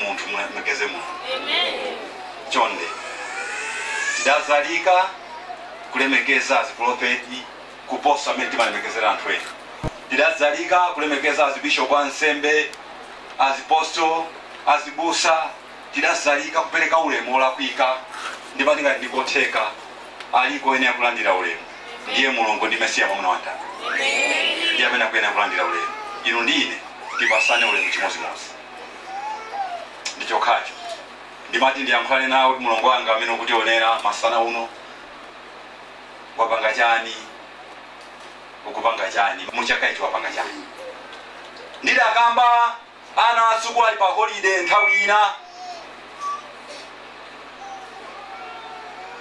munthu mulemekeze mulungu chonde tidazalika kulemekeza azipulofeti kuposa mmene timalemekezera anthu ena tidazalika kulemekeza azibishopu ansembe azipostol azibusa Tidazalika kupeleka ulemu olakwika ndipotu ngati ndikotheka aliko oyenera kulandira ulemu ndiye Mulungu ndi Mesiya mwamuna wa mtanda ndiye amene akuyenera kulandira ulemu. Inu ndi ine tipasane ulemu chimozimozi ndi chokhacho ndimati ndiyankhulane nawe kuti mulongo wanga amene ukutionera masana uno wapanga chani ukupanga chani muchaka ichi wapanga chani ndidakamba Ana a sukulu ali pa holide nthawi ina,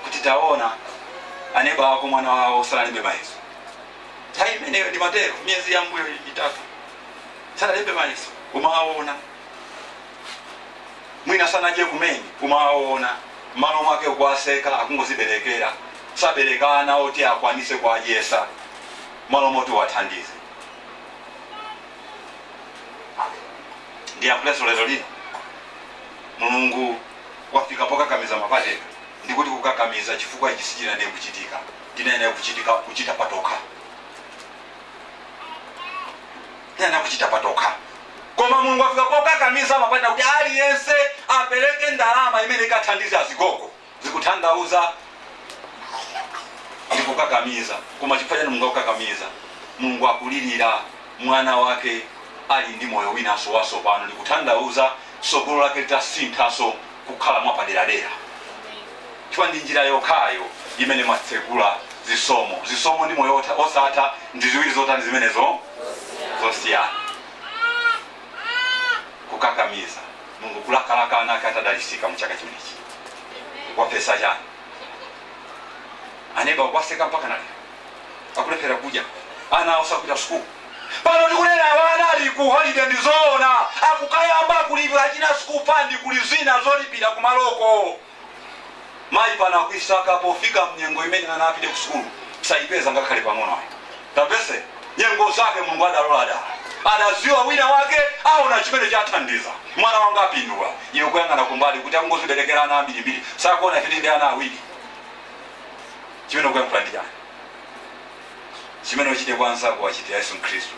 kuti, Taona, aneba ako mwana wawo sanalembe mayeso. Nthawi imeneyo ndimatero, miyezi ya mbuyo itatu sanalembe mayeso, umawaona mwina sanadye kumene, umawaona mmalo mwake ukuwaseka akungoziberekera sabereka ana oti akwanise kuwadyesa mmalo moti uwathandize ndiyankhulenso lero lino mulungu wafika pokakamiza mapateka ndikuti kukakamiza chifukwa ichi sichinayenera kuchitika tinayenera kuchitika kuchita patokha tinayenera kuchita patokha koma mulungu wafika pokakamiza mapateka kuti aliyense apereke ndalama imene ikathandiza azigogo zikuthandauza ndikukakamiza koma chifukwa chani mulungu akukakamiza mulungu akulilira mwana wake ali ndi moyo winaso wasopano ndikuthandauza sogolo lake litasinthaso kukhala mwapaderadera chifukwa ndi njira yokhayo imene imatsekula zisomo zisomo ndi moyo otha- osatha ndi ziwiri zotani zimenezo zosiyana kukakamiza Mulungu kulakalaka ana ake atadalisika mu chaka chimenechi wapesa chani aneba kuwaseka mpakana ali akulephera kudya ana awo sakupita sukulu pano tikunena wana ali ku holiday ndi zoona akukayamba kulipira achina school fund kuli zina zolipira kumaloko Mayi pano akuisaka pofika mnyengo imene ana apite kusukulu saipeza ngakhale pang'ono ayi. Tapese nyengo zake Mulungu adalola dala. Adaziwa wina wake aona chimene chathandiza. Mwana wanga apindula. Iwe kuyang'ana kumbali kuti akungoziberekera ana ambirimbiri. Sakuona kuti ndi ana awiri. Chimene ukuyankhula ndi chani? Chimene uchite kwa anzako wachitira Yesu Khristu.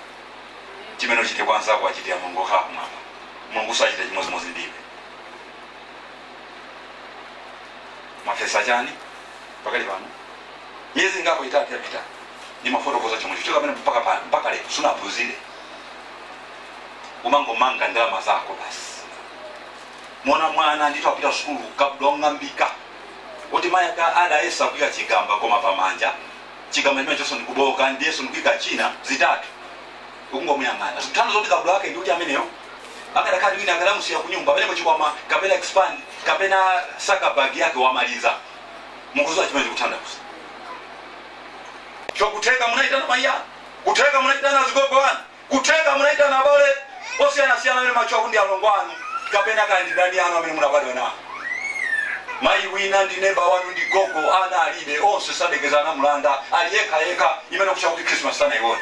Chimene uchite kwa anzako wachitira Mulungu okhala kumwamba. Mulungu sachita chimodzimodzi ndi iwe. mwafesa chani pakali pano miyezi ingapo itatu yapita ndimafotokoza chomwe chicho kapena mpaka pano mpaka lero sunaphunzire umangomanga ndalama zako basi mwana mwana ndithu apita sukulu kabudula ong'ambika kuti mayi ake adayesa kuika chigamba koma pamanja chigamba chimenechonso ndikuboka ndiyenso ndikuika china zitatu ukungomuyang'ana zikutanthauza kuti kabudula wake ndiuti ameneyo akadakhala wina akadamusiya kunyumba pamenepo chikwama kapena expand kapena sakabag yake wamaliza mukuziwa chimene zikutanthauza chokutheka munaitana mayi kutheka munaitana azigogo wanu kutheka munaitana abale osiyanasiyana amene macho akundi alongo anu kapena kaya ndi ndani anu amene munabadwa nawo mayi wina ndi neba wanu ndi gogo ana alibe onse sadekezana mulanda ali yekha yekha imene kucha kuti krismas sanayione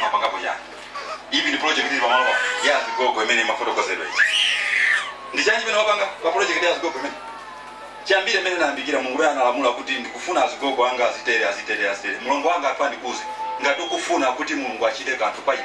mwapangapo chani ivi ni project ili pamalo pa ya azigogo imene imafotokozedwa ichi ndi chani chimene wapanga pa project ya azigogo imene chiyambire imene nayambikira mulungu uyo analamula kuti ndikufuna azigogo anga azitere azitere azitere mulungu wanga athu andikuze ngati ukufuna kuti mulungu achite kanthu pa iwe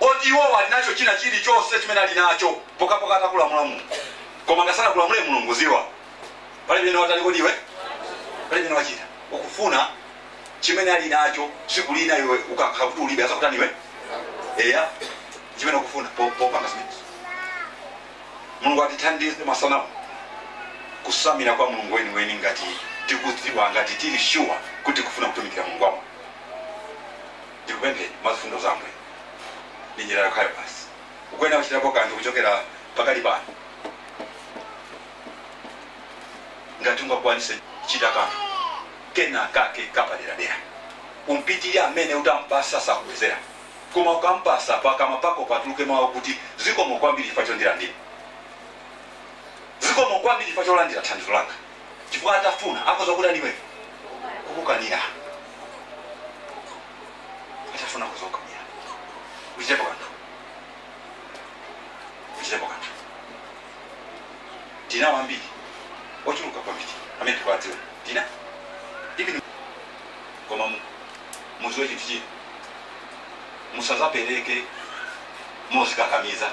oti iwowo ali nacho china chili chonse chimene ali nacho pokapoka atakulamula mulungu koma ngati sanakulamule mulungu ziwa pali pamene watani kodi iwe pali pamene wachita ukufuna chimene ali nacho tsiku lina iwe ukakhala kuti ulibe azakutani iwe eya chimene ukufuna po- popanga zimenezo mulungu atithandize masanamu kusamira kwa mulungu weniweni ngati tikudziwa ngati tili shuwa kuti kufuna kutumikira mulungu wamoyo Ndikupempheni mwa zifundo za Ambuye, ndi njira yokhayo basi, ukuyenera kuchitapo kanthu kuchokera pakali pano, ngati ungakwanise chita kanthu kena kake kapaderadera. Umpitilire amene utampasa sakubwezera, koma ukampasa, pakamwa pako patuluke mau akuti, Zikomo kwambiri chifukwa chondilandira. Zikomo kwambiri chifukwa cholandira thandizo langa. chifukwa atafuna akhoza kutani iwe kukukanira atafuna akhoza kukukanira uchitepo kanthu uchitepo kanthu tina ambiri ochuluka kwambiri amene tikuwadziwa tina even koma mu- muziwe chinthu china musazapereke mozikakamiza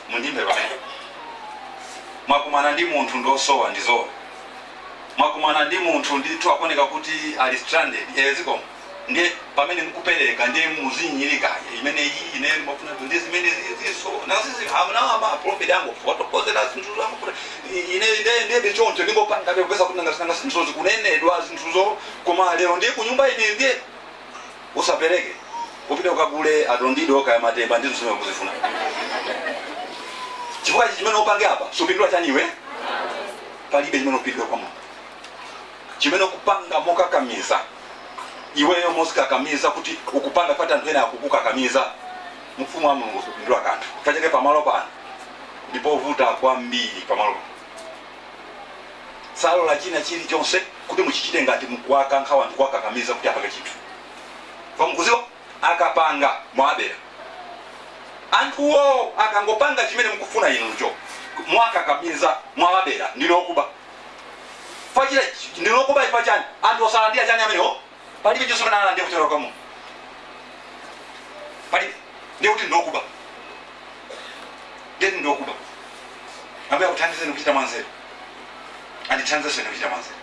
mundimve pamene mwakumana ndi munthu ndiosowa ndi zoona mwakumana ndi munthu ndithu akuoneka kuti ali stranded eh, zikomo ndiye pamene mkupereka ndiye muzinyinyirika imene iyi ine mafuna ndi zimene ziziso nasizi amenewa maprofit ango fotokozera zinthu zangofuta ine ine ndebe choncho ndingopanga ndekupeza kuti nanga zinthu zikunenedwa zinthuzo koma lero ndiye kunyumba ine ndiye usapereke upite ukagule adondido kaya matemba ndi zimene ukuzifuna chifukwa ichi chimene upange apa supindula chani iwe palibe chimene upindula kwa mulungu chimene kupanga mokakamiza iweyo mosikakamiza kuti ukupanga pati anthu ena akukukakamiza ufumu wa mulungu supindula kanthu kachepe pamalo pano ndipovuta kwambiri pamalo pano salola china chiri chonse kuti muchichite ngati mukuwakankha wanthu kuwakakamiza kuti apange chinthu mwa mukuziwa akapanga mwabera anthuwo akangopanga chimene mukufuna inucho mwakakamiza mwawabera ndinu okuba fachira ndinu okuba chifa chani anthu osalandira chani amenewo palibe chonse chimene analandira kuchokera kwa mulungu palibe ndiye kuti ndinu okuba ndiye kuti ndinu okuba ambuye akuthandizeni kuchita mwanzeru andithandizeni kuchita mwanzeru